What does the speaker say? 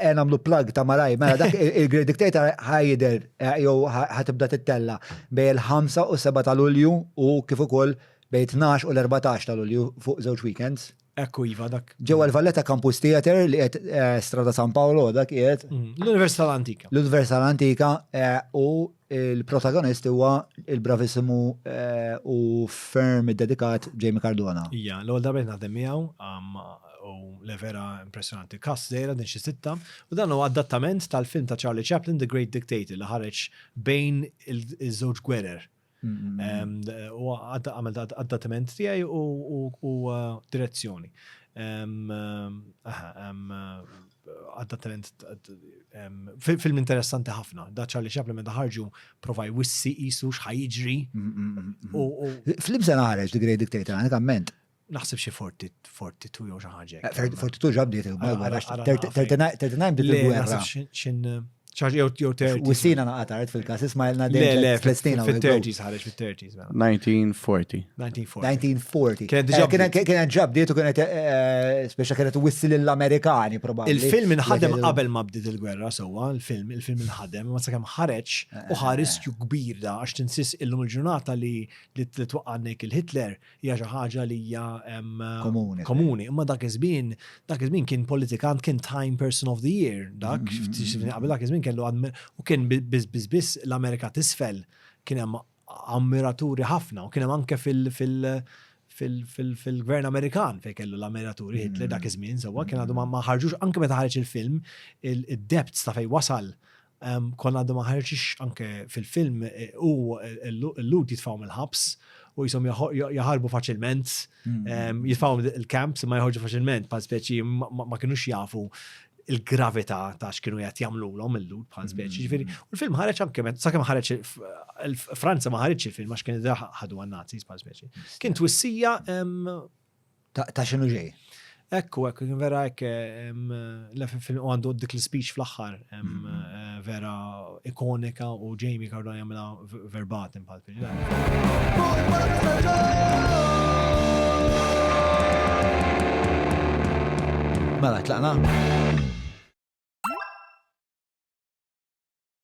Eh, namlu plug ta' malaj, mela dak il-Great Dictator ħajder, eh, jew ħatibda tittella bej il-5 u 7 ta' Lulju u kif ukoll bej 12 u l-14 ta' Lulju fuq żewġ weekends. Ekku iva dak. Ġewwa l-Valletta Campus Theater li qed eh, Strada San Paolo dak qiegħed. Mm, L-Università l-Antika. L-Università l-Antika u Il-protagonist huwa il-bravisimu u ferm id-dedikat Jamie Cardona. Ija, l-għol darba naħdem miegħu u le vera impressjonanti. Kas zejra din xi sitta u dan huwa adattament tal-film ta' Charlie Chaplin The Great Dictator li ħareġ bejn iż-żewġ gwerer. U għamel adattament tiegħi u direzzjoni. għadda talent film interessanti ħafna. Da Charlie Chaplin meta ħarġu prova jwissi jisu xħajġri. Film se naħreġ The Great Dictator, għanek għamment. Naħseb xie 42 jew xi ħaġa. 42 ġabdiet il-gwerra. 39 bdiet il-gwerra. ċaġ jew jew terti. U s-sina naqa tard fil-kas, isma jelna dejjem. Le, fil-stina. Fil-30s ħareġ fil-30s. 1940. 1940. Kienet ġab dietu kienet, eh, eh, speċa kienet wissil l-Amerikani, probabli. Il-film inħadem qabel ma bdiet il-gwerra, sowa, il-film, il-film inħadem, ma sakemm ħareġ u eh, ħariskju kbir da, għax tinsis illum il-ġurnata li li twaqqannek il-Hitler, hija xi ħaġa li hija komuni. Komuni, imma dak iż-żmien, dak iż-żmien kien politikant kien Time Person of the Year, dak mm-hmm. qabel dak iż-żmien kellu u kien biss biss biss l-Amerika tisfel kien hemm ammiraturi ħafna u kien hemm anke fil- fil- fil-gvern Amerikan fej kellu l-ammiraturi mm-hmm. Hitler dak iż-żmien, sewwa kien għadu ma ħarġux anke meta ħarġ il-film, id-depths ta' fej wasal Konna għadha ma ħarġitx anke fil-film, hu l-Lhud jitfgħu mill-ħabs u jisom jaħarbu faċilment, mm. jitfgħu il-camps ma jħorġu faċilment, pa' speċi ma kienux jafu il-gravità ta' x'kienu qed jagħmlulhom illud bħal mm. speċi. Ġifieri, u l-film ħareġ anke sakemm ħareġ Franza ma ħareġ il-film għax kien ħadu għan-Nazis bħal speċi. Kien twissija Ta' xinu ġej? Ekku, ekku, vera ekk, l-FFN għandu dik l-speech fl-axħar, mm-hmm. vera ikonika u Jamie Cardone jamla verbatim pal fil Mela, tlaqna?